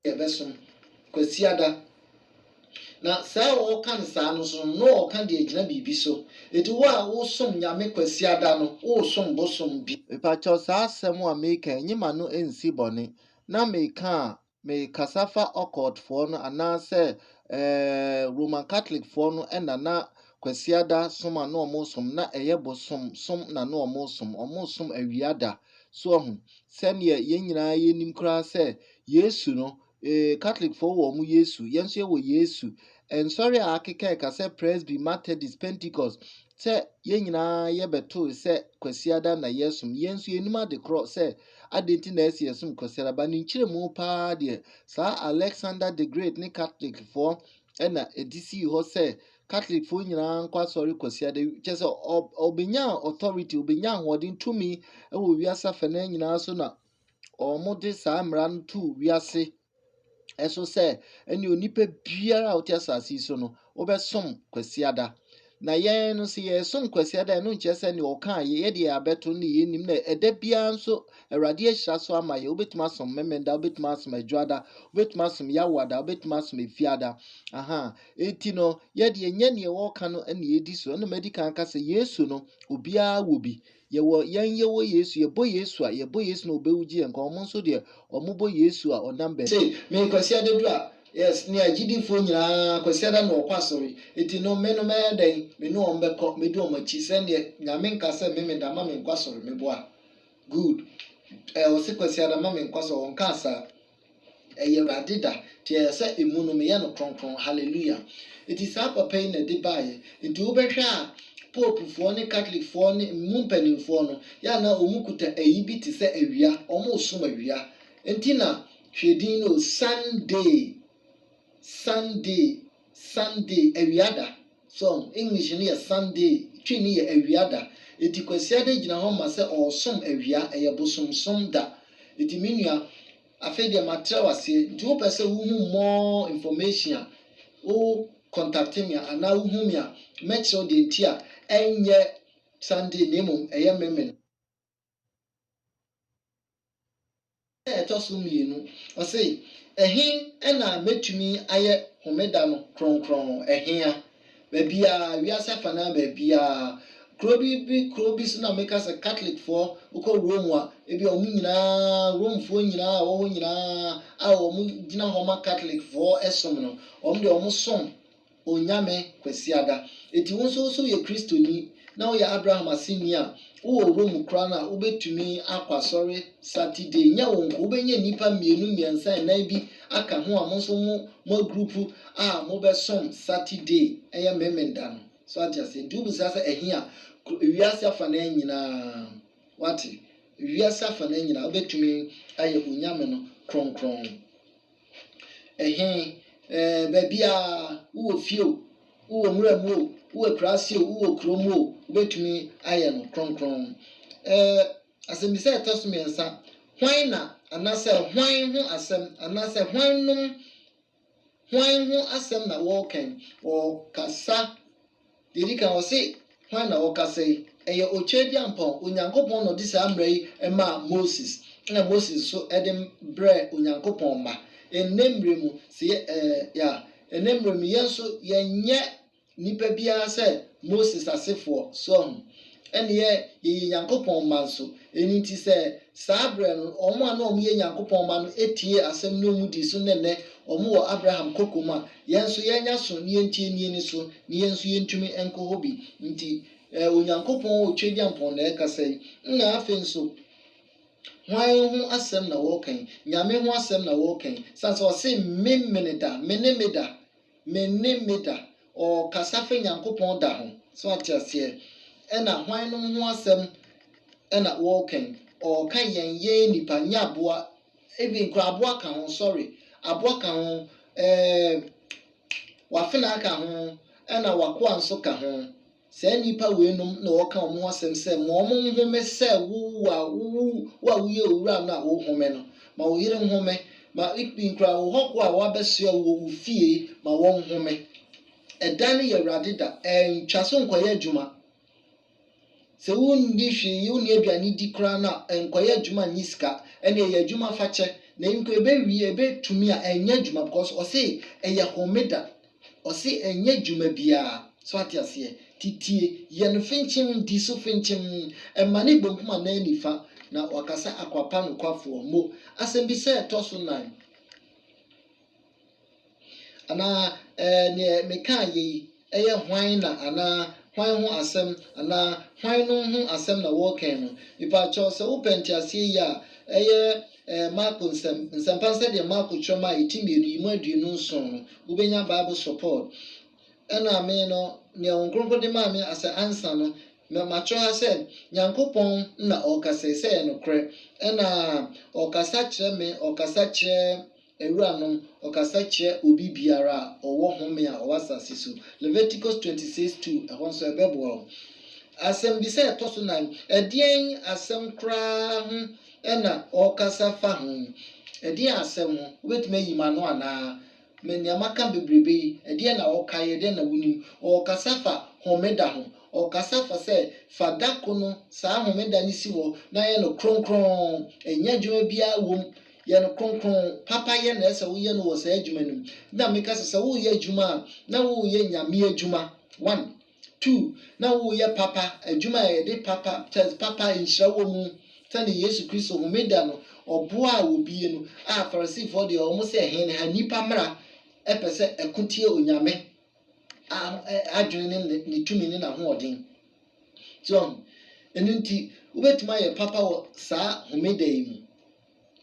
yɛbɛsom Kwasiada. Na saa a ɔreka no saa no nso no, na ɔreka deɛ ɛgyina biribi so. Enti wo a wosom Nyame Kwasiada no, woresom bosom bi. Mepakyɛw saa asɛm a mereka yi, nyi m'ano nsi bɔne. Na mereka a, merekasa fa occult foɔ no anaasɛ ɛɛɛ Roman Catholic foɔ no na na Kwasiada som a na wɔsom, na ɛyɛ bosom som na na wɔsom. Wɔsom awia da. So ahu? Sɛdeɛ yɛn nyinaa yɛnim koraa sɛ Yesu no, ee, Katolekfoɔ wɔ wɔn Yesu, yɛn nso yɛwɔ Yesu. Nsɔre a akeka ɛka sɛ Presby, Methodist, Pentecost, sɛ yɛn nyinaa yɛbɛtoe sɛ Kwasiada na yɛsom. Yɛn nso yɛnim ade korɔ sɛ adɛn nti na ɛyɛ sɛ yɛsom Kwasiada. Ba ne nkyerɛmu pa ara deɛ, saa Alexander the Great ne Katolekfoɔ na ɛde sii hɔ sɛ Katolekfoɔ nyinaa nkɔ asɔre Kwasiada, kyerɛ sɛ ɔbɛnya authority, ɔbɛnya ahoɔden tumi wɔ wiase afɛnaa nyinaa so na wɔde saa mmara no to wiase ɛso sɛ ɛne onipa biara a ɔte asase yi so no wobɛsom kwasiada na yɛn no sɛ yɛsom kwasiada ɛno nkyerɛ sɛ ne ɔka yɛ yɛde yɛ abɛto ne yɛ nim na ɛda biara nso awurade ahyira so ama yɛ wobɛtumi asom memenda wobɛtumi asom adwada wobɛtumi asom yawada wobɛtumi asom efiada aha Enti no, yɛ deɛ nyɛ neɛ wɔɔka no na yɛdi so. Ɛna madi kan aka sɛ Yesu no, obiara wɔ bi. Yɛwɔ, yɛn yɛwɔ Yesu, yɛbɔ Yesu a, yɛbɔ Yesu na ɔbɛwugye yɛn nkwa. Wɔn nso deɛ, wɔbɔ Yesu a ɔnam bɛ. Sei, me Kwasiada du a, yes, ne agyidifoɔ nyinaa, Kwasiada na wɔkɔ asɔre. Enti no, me no mɛyɛ dɛn? Me ne wɔn bɛkɔ, mɛdi wɔn akyi. Sɛ neɛ Nyame nka sɛ me meda ma menkɔ asɔre, meboa. Good. Ɛ, ɔse Kwasiada ma menkɔ asɔre, ɔnkaa saa. Ɛyɛ Awurade da, nti ɛyɛ sɛ emu no meyɛ no kronkron. Hallelujah! Nti saa papa yi na ɛde baeɛ. Nti wobɛhwɛ a, Popefoɔ ne Katolekfoɔ ne emu mpanimfoɔ no, yɛ a na wɔkuta ayi bi te sɛ awia, wɔresom awia. Nti na, hwɛ din no o, Sunday, Sunday. Sunday, awia da. So, English no yɛ Sunday, Twi no yɛ awia da. Enti Kwasiada gyina hɔ ma sɛ ɔresom awia, ɛyɛ bosomsom da. Enti me nua, afei deɛ matrɛw aseɛ, nti wopɛ sɛ wohu more information a, wo contacte me a, anaa wohu me a, mɛkyerɛ wo deɛ nti a ɛnyɛ Sunday na mmom ɛyɛ Memen. a ɛtɔ so mmienu, ɔse, Ɛhe na mɛtumi ayɛ homeda no kronkron? Ɛheaa? Baabiaa, wiase afanaa baabiaa. Kuro bi bi kuro bi so na meka sɛ Katolekfoɔ, wokɔ Rome a, ebia wɔn nyinaa, Romefoɔ nyinaa a wɔwɔ hɔ nyinaa a wɔgyina hɔ ma Katolekfoɔ som no, wɔn deɛ wɔsom. Onyame Kwasiada. Enti wo nso wo se woyɛ Kristoni na woyɛ Abraham aseni a, wowɔ wura mu koraa no a, wobɛtumi akɔ asɔre Saturday. Nyɛ wo nko, wobɛnya nnipa mmienu, mmiɛnsa, nnan bi aka ho a mo nso mo mo agurupu a mobɛsom Saturday, ɛyɛ Memenda no. So ate aseɛ? Nti wobisa sɛ ɛhe a, wiase afanaa nyinaa. Woate? Wiase afanaa nyinaa wobɛtumi ayɛ Onyame no kronkron. Ɛhe? Ɛɛ, baabiara. Wowɔ fie o, wowɔ nwura mu o, wowɔ akuraase o, wowɔ kuro mu o, wobɛtumi ayɛ no kronkron. Ɛɛ, asɛmmisa a ɛtɔ so mmiɛnsa, Hwan na anaasɛ hwan ho asɛm anaasɛ hwannom hwan ho asɛm na wɔreka yi? Wɔkasa. Deɛ ɛdi kan, ɔse, Hwan na ɔrekasa yi? Ɛyɛ Otwedeampɔn. Onyankopɔn na ɔde saa mmara yi maa Moses, ɛna Moses nso de brɛɛ Onyankopɔn mma. Ɛnnɛ mmerɛ mu, sɛ yɛ, ɛɛ, ya, ɛnnɛ mmerɛ mu, yɛn nso, yɛnyɛ nnipa biara sɛ Moses asefoɔ. So ahu? Ɛnneɛ yɛyɛ Nyankopɔn mma nso. Ɛno nti sɛ saa berɛ no wɔn a na wɔyɛ Nyankopɔn mma no tiee asɛm no na wɔdii so ne nnɛ wɔwɔ Abraham kokom a, yɛn nso yɛanya so na yɛntie ne ani so, na yɛn nso yɛntumi nkɔ hɔ bi. Nti Onyankopɔn a ɔtwa gyampɔn na ɛrekasa yi, na afei nso hwan ho asɛm na wɔreka yi? Nyame ho asɛm na wɔreka yi, sane sɛ ɔse, Me, mene da, mene me da, Me ne me da. Ɔɔkasa fa Nyankopɔn da ho. So ate aseɛ? Ɛna hwannom ho asɛm ɛna woɔɔka yi? Ɔɔka yɛn, yɛn nnipa, nyɛ aboa, even koraa aboa ka ho, sorry, aboa ka ho, ɛɛm, w'afenaa ka ho, ɛna w'akoa nso ka ho. Saa nnipa weinom na wɔka wɔn ho asɛm sɛ, Ma wɔnhome sɛ wo a wowo wo a woyɛ owura no a worehome no. Ma wo yere nhome. Ma Ikbi nkuraa wo hɔhoɔ a wɔabɛsoɛ wo wɔ wo fie yi, ma wɔnhome. Ɛda no yɛ Awurade da. Ntwa so nkɔyɛ adwuma. Sɛ wonni hwee yɛ, wonni aduane di koraa no a, nkɔyɛ adwuma nnye sika. Ɛnneɛ yɛ adwuma fa kyɛ. Na nko ɛbɛwie, ɛbɛtumi a, nyɛ adwuma because ɔse ɛyɛ homeda. Ɔse ɛnyɛ dwuma biaa so ate aseɛ titie yɛn finkyim di so finkyim ɛma ne bonkum anaa nifa na waka sɛ akwapa nokwafoɔ mo asɛmbisa ɛtɔ so nan anaa ɛɛ neɛ mekaa yei ɛyɛ hwan na anaa hwan ho asɛm anaa hwan nom ho asɛm na wɔɔkɛn no mepaakyɛw sɛ wopɛ nteaseɛ yi a ɛyɛ Ɛɛ, Marko nsɛm, Nsɛmpa no sɛdeɛ Marko twerɛ maa yɛ, ti mmienu, yi mu aduonu nson no, wobɛnya Bible support. Ɛna me no, nea Honhom Kronkron de maa me as a answer no, mɛ, matwerɛ ha sɛ, Nyankopɔn na Ɔrekasa yi, sɛ ɛyɛ nokorɛ. Ɛna Ɔrekasa kyerɛ me, Ɔrekasa kyerɛ. Awuranom, ɔkasa kyerɛ obi biara a ɔwɔ home a ɔwɔ asase so. Leviticus twenty six two, ɛhɔ nso ɛbɛboa wo. Asɛmmisa a ɛtɔ so nan, Ɛdeɛn asɛm koraa ho na ɔrekasa fa ho? Ɛdeɛn asɛm ho? Wobɛtumi ayi m'ano anaa? Me nea maka bebrebe yi, ɛdeɛn na wokaeɛ? Ɛdeɛn na wonim? Ɔrekasa fa homeda ho. Ɔrekasa fa sɛ, fa da ko no, saa homeda no si hɔ na yɛ no kronkron. Ɛnyɛ adwuma biara wom. Yɛ no kronkron. Papa yɛ na ɛsɛ woyɛ no wɔ saa adwuma no mu. Na meka sɛ, sɛ woreyɛ adwuma a, na woreyɛ Nyame adwuma. One. Two, na woreyɛ papa, adwuma a yɛde papa, kyɛ papa nhyira wɔ mu. Sɛdeɛ Yesu Kristo, Homeda no, ɔboaa obie no, a Farisifoɔ deɛ wɔn sɛ hen ha nnipa mmara pɛ sɛ ɛko tia Onyame a adwene ne ne tumi ne n'ahoɔden. So, ɛno nti, wobɛtumi ayɛ papa wɔ saa Homeda yi mu.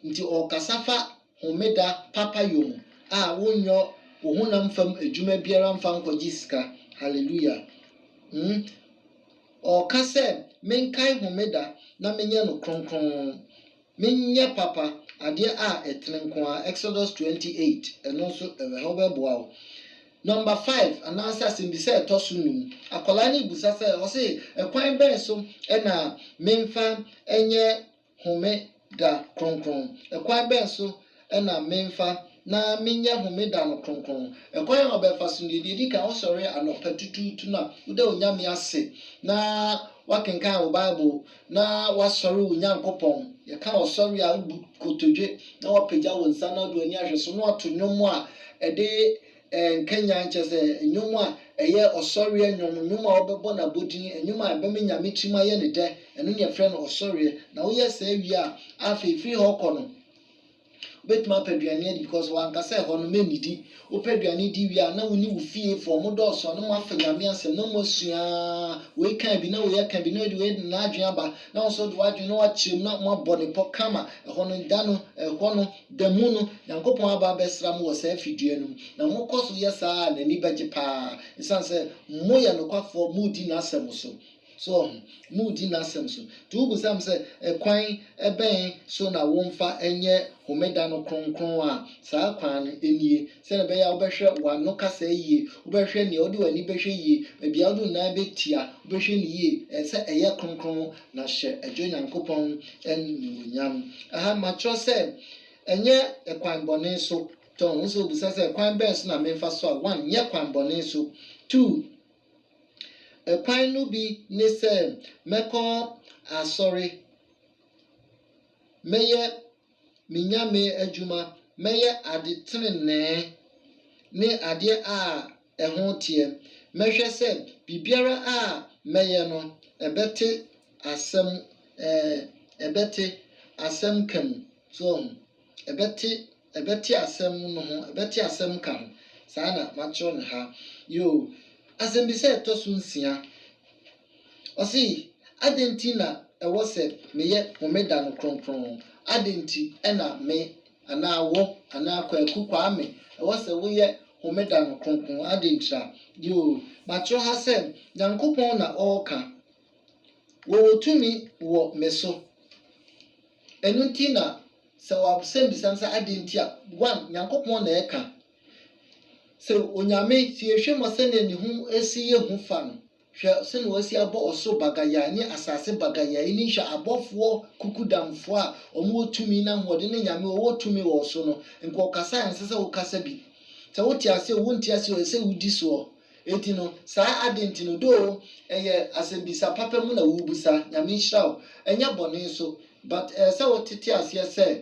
Enti ɔrekasa fa Homeda papayɔ mu a wonyɔ wo honam fam adwuma biara mfa nkɔgye sika. Hallelujah! Hmm. Ɔreka sɛ, Menkae Homeda na menyɛ no kronkron. Menyɛ papa, adeɛ a ɛtene nko ara, Exodus twenty eight. Ɛno nso, ɛwɔ ha, wobɛboa wo. Number five, anaasɛ asɛmbisa a ɛtɔ so num. Akwadaa no rebisa sɛ, ɔse, Ɛkwan bɛn so na memfa nyɛ Homeda Kronkron. Ɛkwan bɛn so na memfa na menyɛ Homeda no kronkron? Ɛkwan a wobɛfa so nie, Deɛ ɛdi kan, wosɔre anɔpa tutuutu no a, woda Onyame ase na woakenkan wo Bible na woasɔre wo Nyankopɔn. Yɛka ɔsɔre a, wobu nkotodwe na woapagya wo nsa na wode w'ani ahwɛ so na woato nnwom a ɛde Nkenyan kyerɛ sɛ nnwom a ɛyɛ ɔsɔreɛ nnwom, nnwom a wɔbɛbɔ no abodin, nnwom a ɛbɛma Nyame tirim ayɛ no dɛ, ɛno na yɛfrɛ no ɔsɔreɛ. Na woyɛ saa wie a, afei firi hɔ kɔ no, wobɛtumi apɛ aduane adi because wanka sɛ hɔ no mɛnnidi. Wopɛ aduane di wie a, na wo ne wo fiefoɔ, mo dɔɔso a na mo afa Nyame asɛm, na mo asua ara, wei kaa bi na wei aka bi, na wei de wei de n'adwene aba, na wo nso wode w'adwene na woakyerɛ mu na moabɔ ne pɔ kama, ɛhɔ no da no, ɛhɔ no, Da mu no, Nyankopɔn aba abɛsra mo wɔ saa fidua no mu, na mokɔ so yɛ saa a, n'ani bɛgye paa, esiane sɛ moyɛ nokwafoɔ, moredi n'asɛm so. So wɔahu? Moredi n'asɛm so. Enti wobisa me sɛ, Ɛkwan bɛn so na womfa nyɛ Homeda no kronkron a? Saa kwan no nie. sɛdeɛ ɛbɛyɛ a wobɛhwɛ w'ano kasa yie, wobɛhwɛ deɛ wode w'ani bɛhwɛ yie, baabi a wode wo nan bɛtia, wobɛhwɛ no yie, ɛɛ sɛ ɛyɛ kronkron, na hyɛ Agya Onyankopɔn animuonyam. Aha matwerɛ sɛ, Ɛnyɛ ɛkwan bɔne so. Tɔ, wo nso wobisa sɛ, Ɛkwan bɛn so na memfa so a? One, nyɛ kwan bɔne so. Two, ɛkwan no bi ne sɛ mɛkɔ asɔre, mɛyɛ. me nyame adwuma, mɛyɛ ade trenee ne adeɛ a ɛho teɛ. Mɛhwɛ sɛ biribiara a mɛyɛ no, ɛbɛte asɛm, ɛɛ, ɛbɛte asɛm ka mu. So wɔ ho? Ɛbɛte, ɛbɛte asɛm no ho, ɛbɛte asɛm ka ho. Saa na matwerɛ no ha. Yoo. Asɛmmisa a ɛtɔ so nsia. Ɔse, Adɛn nti na ɛwɔ sɛ meyɛ Homeda no kronkron? Adɛn nti na me, anaa wo, anaa Kwaku, Kwame, ɛwɔ sɛ woyɛ Homeda no kronkron? Adɛn ntira? Yoo, matwerɛ ha sɛ, Nyankopɔn na ɔɔka. Wɔwɔ tumi wɔ me so. Ɛno nti na sɛ wɔasɛmbisa me sɛ adɛn nti a, one, Nyankopɔn na ɛɛka. Sɛ Onyame, sɛ yɛhwɛ mu a sɛdeɛ ne ho si yɛ hu fa no, Hwɛ sɛnea wɔasi abɔ ɔsoro bagayae ne asase bagayae yi ne nhwɛ abɔfoɔ kukudamfoɔ a wɔwɔ tumi ne ahoɔden ne Nyame a ɔwɔ tumi wɔ wo so no nko ɔkasa a ɛnsɛ sɛ wokasa bi. Sɛ wote aseɛ oo wonte aseɛ oo ɛsɛ sɛ wodi soɔ. Enti no, saa ade nti no, though ɛyɛ asɛmbisa papa mu na worebisa, Nyame nhyira wo, ɛnyɛ bɔne nso, but ɛsɛ sɛ wotete aseɛ sɛ,